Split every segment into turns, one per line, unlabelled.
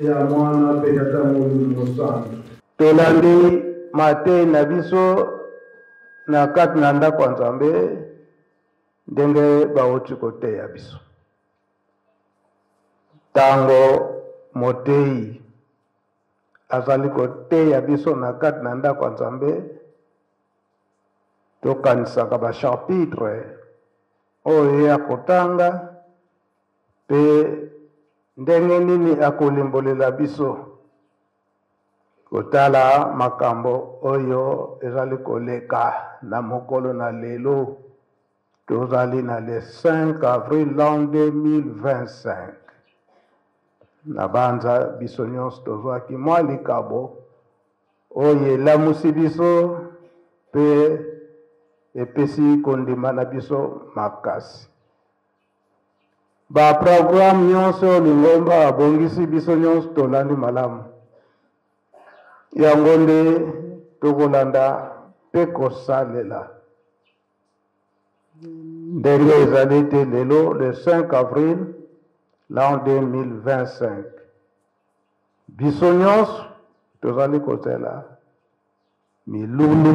Ya Mwana mpe Tata Molimo Mosantu. Tolandi mateyi na biso na kati na ndako ya Nzambe ndenge bauti koteya biso. Ntango moteyi azali koteya biso na kati na ndako ya Nzambe, tokanisaka basharpitre oyo ye akotanga Mpe ndenge nini akolimbolela biso kotala makambo oyo ezali koleka na mokolo na lelo? Tozali na le 5 avril 2025. Nabanza biso nyonso tozwaki mwa likabo oyo elamusi biso mpe epesi kondima na biso makasi. Ba programme nyonso oyo lingomba abongisi biso nyonso tolandi malamu, yango nde tokolanda mpe kosalela ndenge ezali te lelo le 5 avril l'an 2025 biso nyonso tozali kozela milulu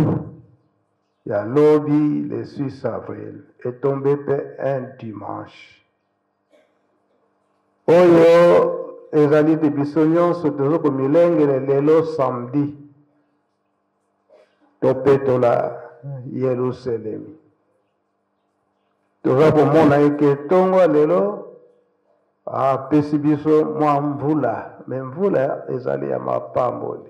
Ya lobi le 6 avril e tomber pe un dimanche. Oyo ezali te biso nyonso tozo komilengele lelo samedi topetola Yeluselemi. Toza komona eke ntongo ya lelo apesi biso mwa mvula, me mvula ezali ya mapamboli.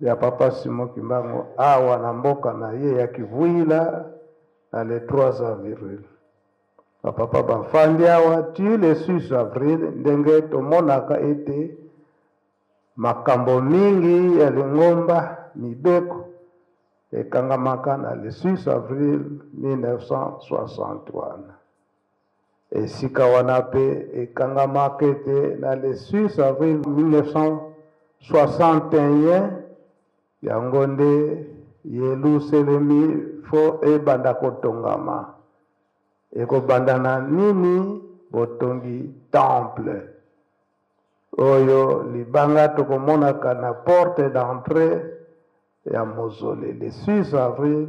ya Papa Simon Kimbangu awa na mboka na ye ya Kivuila na le 3 avril. Ba papa bafandi awa ti le 6 avril ndenge tomonaka ete makambo mingi ya lingomba mibeko ekangamaka na le 6 avril 1960 wana. Esika wana mpe ekangamaka ete na le 6 avril 1961 yango nde Yeluselemi fo ebanda kotongama. Ekobanda na nini? Botongi temple oyo libanga tokomonaka na porte d'entrée ya mozole le 6 avril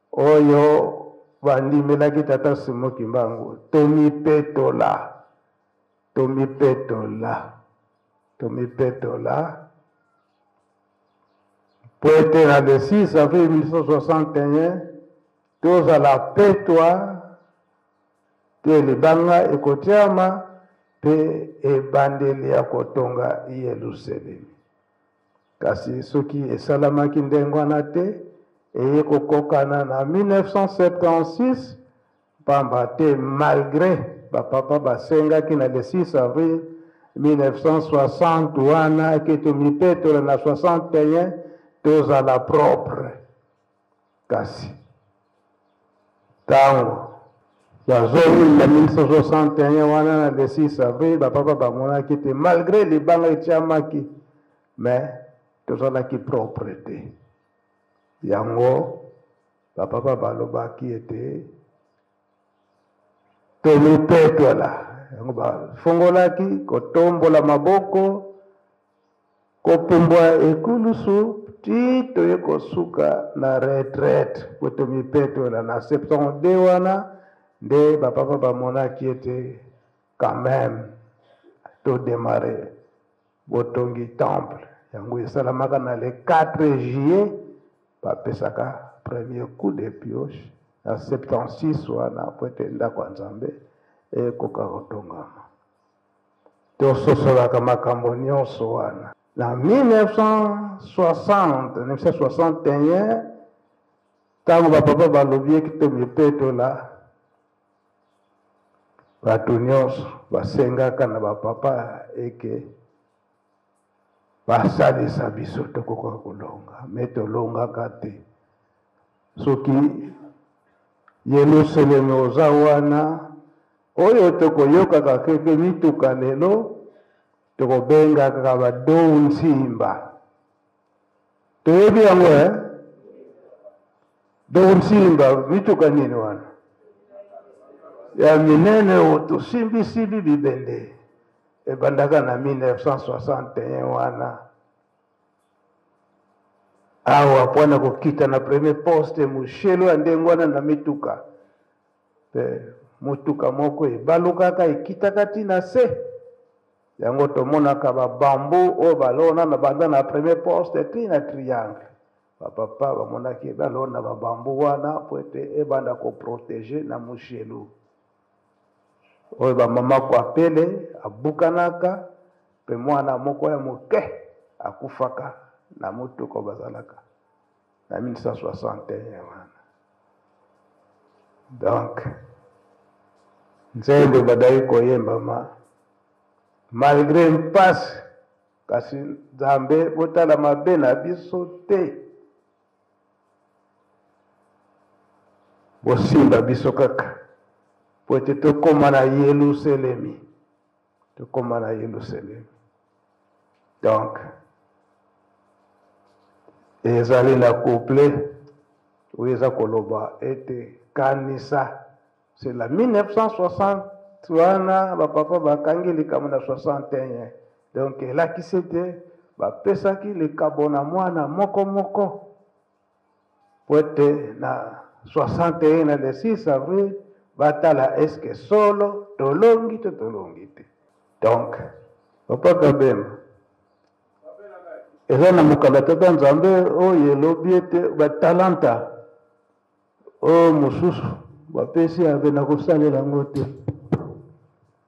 oyo bandimelaki tata simo kimbangu tomipetola tomipetola tomipetola mpo ete na le 6 avril 1961 tozala petwa te libanga ekotyama mpe ebandeli ya kotonga yelusalemi Kasi soki esalamaki ndenge wana te, eye kokokana na 1976 mpamba te malgre bapapa basengaki na le 6 avril 1960 wana eke tomipetola na 61 tozala propre Kasi, ntango ya zomi ya 1961 wana na le 6 avril bapapa bamonaki te malgre libanga etiamaki me tozalaki propre te yango bapapa balobaki ete tomipetola yango bafongolaki kotombola maboko Kopumbwa ekulusu ti toye kosuka na retraite po tomipetola. Na 72 wana nde ba papa bamonaki ete quand meme to demarrer botongi temple. Yango esalamaka na le 4 juillet bapesaka premier coup de pioche na 76 wana po ete ndako ya Nzambe ekoka kotongama. Tososolaka makambo nyonso wana. Na 1960, 1961, ntango bapapa balobi eki tomipetola, bato nyonso basengaka na bapapa eke basalisa biso tokoka kolonga me tolongaka te soki yelusaleme oza wana oyo tokoyokaka keke mituka lelo tokobengaka badou nsimba toyebi yango e dokosimba mituka nini wana ya minene oyo tosimbisimbi bibende ebandaka na 1961 wana awa mpo na kokita na premier poste moshelo ya ndenge wana na mituka Mpe motuka moko ebalukaka, ekitaka ti na se. Yango tomonaka ba bambu oyo balona na banda na premier poste ti na triangle. Ba papa bamonaki balona ba bambu wana mpo ete ebanda ko proteger na mujelu oyo ba mama kwapele abukanaka mpe mwana moko ya moke akufaka na motuka bazalaka na 1961 wana donc nzembo ebadaki koyembama malgre mpasi kasi nzambe botala mabe na biso te bosimba biso kaka po ete tokóma na yeluselemi tokoma na yelusalemi donc ezali na couple oyo eza koloba ete kanisa sela 1960 wana bapapa bakangi likambo na 61 donc elakisi ete bapesaki likabo na mwana moko moko mpo ete na 61 na le 6 avril batala eske solo tolongi to tolongi te donc papa kabemba eza na mokanda tata nzambe oyo elobi ete batalanta oyo mosusu bapesi ave na kosalela yango te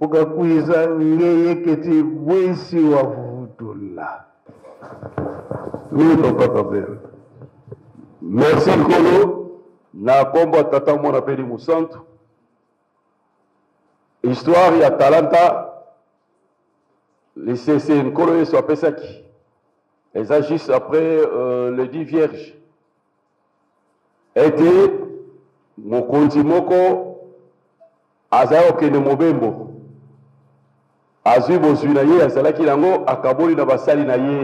ukakwiza ngeyeketi bwisi wa vuvutula oui papa kabere
merci nkolo na nkombo ya tata mwana mpe limusantu histoire ya talanta lisese nkolo yesu apesaki eza juste après euh, le dit vierge Ete mokonzi moko azali kokende mobembo, azwi bozwi na ye azalaki nango, akaboli na basali na ye,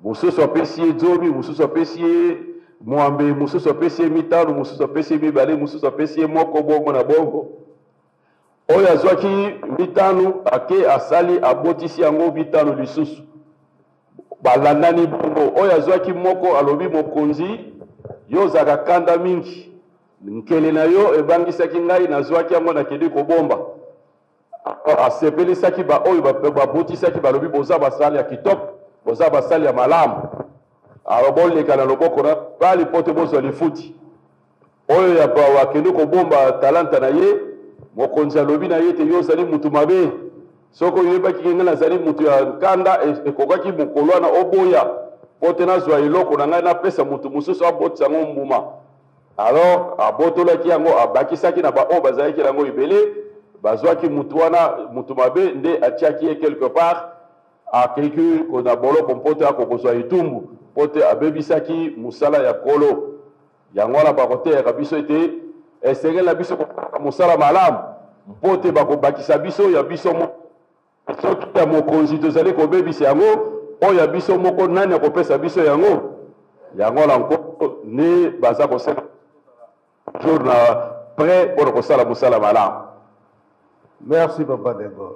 mosusu apesi ye zomi, mosusu apesi ye mwambe, mosusu apesi ye mitano, mosusu apesi ye mibale, mosusu apesi ye moko, bongo na bongo. Oyo azwaki mitano ake asali abotisi yango mitano lisusu. Balandani bongo, oyo azwaki moko alobi, Mokonzi, yo ozalaka kanda mingi, nkele na yo ebangisaki ngai, nazwaki yango nakendeki kobomba. Asepelisaki baoyo babutisaki, balobi, Boza basali ya kitoko, boza basali ya malamu, alo boleka na loboko na mibali mpo te bozwa lifuti. Oyo ya bawa akende kobomba talanta na ye, mokonzi alobi na ye te yo ozali mutu mabe, soki oyebaki ke ngai nazali mutu ya nkanda, e, ekokaki mokolo wana oboya po te nazwa eloko na ngai napesa mutu mosusu abotisa yango mbuma. Alors abotolaki yango, abakisaki na baoyo bazalaki na yango ebele, bazwaki mutu wana mutu mabe, nde atiaki ye quelque part, akeki na boloko mpo te akokozwa etumbu, mpo te abebisaki mosala ya Nkolo. Yango wana bakoteyaka biso ete esengeli na biso kosalaka mosala malamu mpo te bakobakisa biso ya biso moko. Soki ya mokonzi tozali kobebisa yango, oyo ya biso moko nani akopesa biso yango? Yango wana nkoko nde baza kosala jour na pre mpo na kosala mosala malamu.
Merci papa Degol.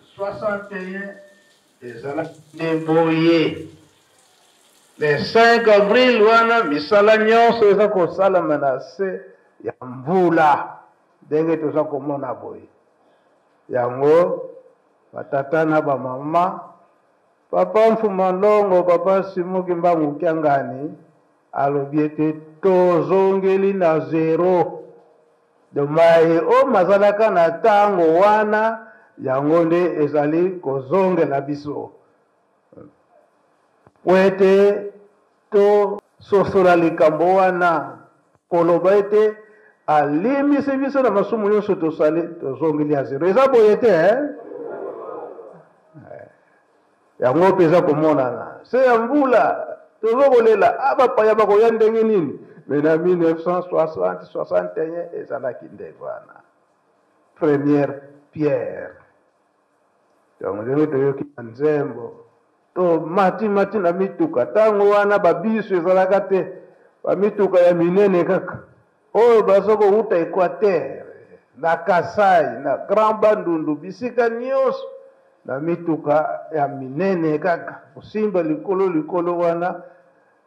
61 ezalaki nde boye le 5 avril wana misala nyonso eza kosalama na se ya mvula ndenge toza komona boye yango batata na bamama papa mfuma longo papa simuki mbangu kiangani alobi ete tozongeli na zero do mai oyo mazalaka na ntango wana yango nde ezali kozongela biso po ete tososola likambo wana koloba ete alimbisi biso na masumu nyonso tosali tozongeli ya zero eza boye te eh? yango mpe eza komonana se ya mvula tozo kolela a ah, bapaya bakoya ndenge nini me na 1960 61 ezalaki nde wana première pierre yango ndenge toyoki na nzembo tomatimati na mituka ntango wana babisu ezalaka te bamituka ya minene kaka Oyo baza kowuta Equateur, na Kasai, na Grand Bandundu, bisika nionso, na mituka ya minene kaka, kosimba likolo likolo wana,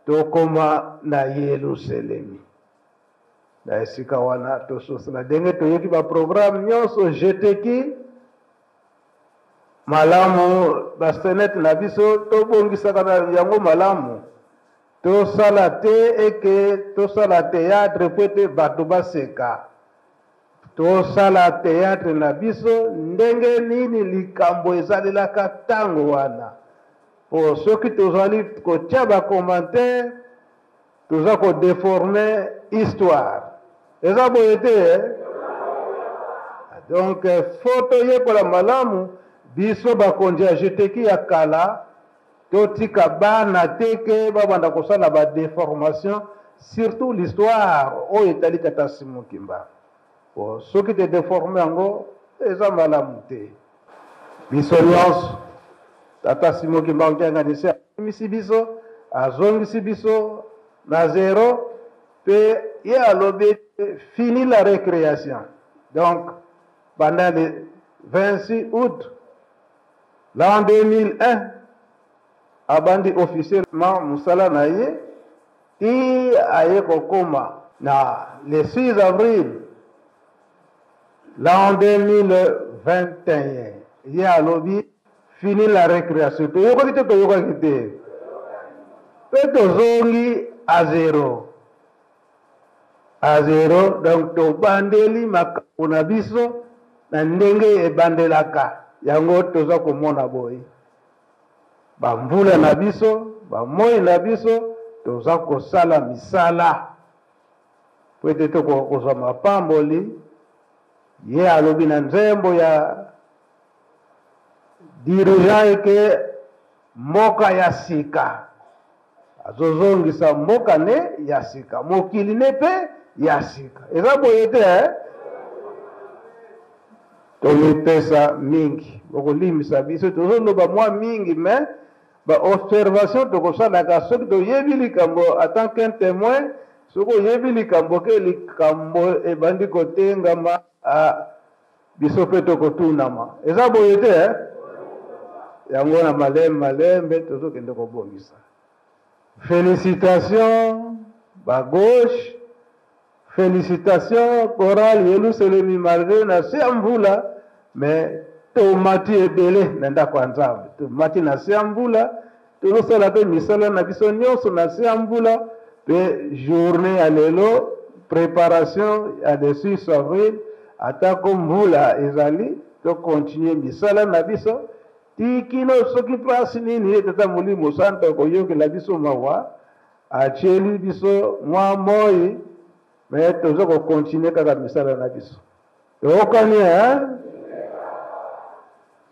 tokoma na Yeluselemi. Na esika wana, tososla denge toyoki ba programme nionso, jeteki malamu ba scenette na biso, tobongisaka yango malamu. Tosala te eke tosala theatre po ete bato baseka. Tosala theatre na biso ndenge nini likambo ezalelaka tango wana. Po soki tozali kotia ba commentaires, toza ko deformer histoire. Eza boye te eh? Donc fo toyekola malamu biso bakonzi ya jeteki ya kala. Totika bana te ke babanda kosala ba deformation surtout l'histoire oyo etali tata Simon Kimba. Po soki te deforme yango eza malamu te. Biso nyonso tata Simon Kimba Nkiangani se abimisi biso azongisi biso na zero pe ye alobi fini la recreation donc banda le 26 août Na 2001, abandi officiellement mosala na ye tii aye kokoma na le 6 avril l'an 2021. Ye alobi fini la recreation. Toyokaki to toyokaki te? Mpe tozongi à zero. A zero, donc tobandeli makambo na biso na ndenge ebandelaka, yango toza komona boye bamvula na biso bamoi na biso toza kosala misala po ete tokoka kozwa mapamboli ye alobi na nzembo ya dirigeant eke mboka ya sika azozongisa mboka ne ya sika mokili ne mpe ya sika eza boye te eh? tomipesa mingi bokolimbisa biso tozoloba mwa mingi me baobservation tokosalaka soki toyebi likambo atant qu'un témoin soki oyebi likambo ke likambo ebandi kotengama ah, biso mpe tokotunama eza boye te eh? yango na malembe malembe tozokende kobongisa félicitation bagauche félicitation coral yeluselemi malgré na se ya mvula mais tomati ebele na ndako ya nzambe tomati na se ya mvula Tozosala mpe misala na biso nyonso na se ya mvula mpe journee ya lelo preparation ya le 6 avril atako mvula ezali tokontinue misala na biso tikino soki mpasi nini ye tata molimo santo akoyokela biso mawa atyeli biso mwa moi me toza kokontinue kaka misala na biso toyokani eh?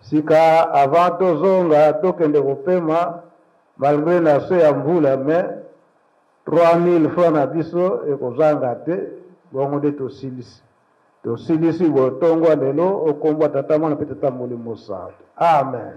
sika avant tozonga tokende kopema malgre na se ya mvula mais 3000 francs na biso ekozanga te bongo nde tosilisi tosilisi botongwa lelo okombwa tata mwana mpe tata molimo santo amen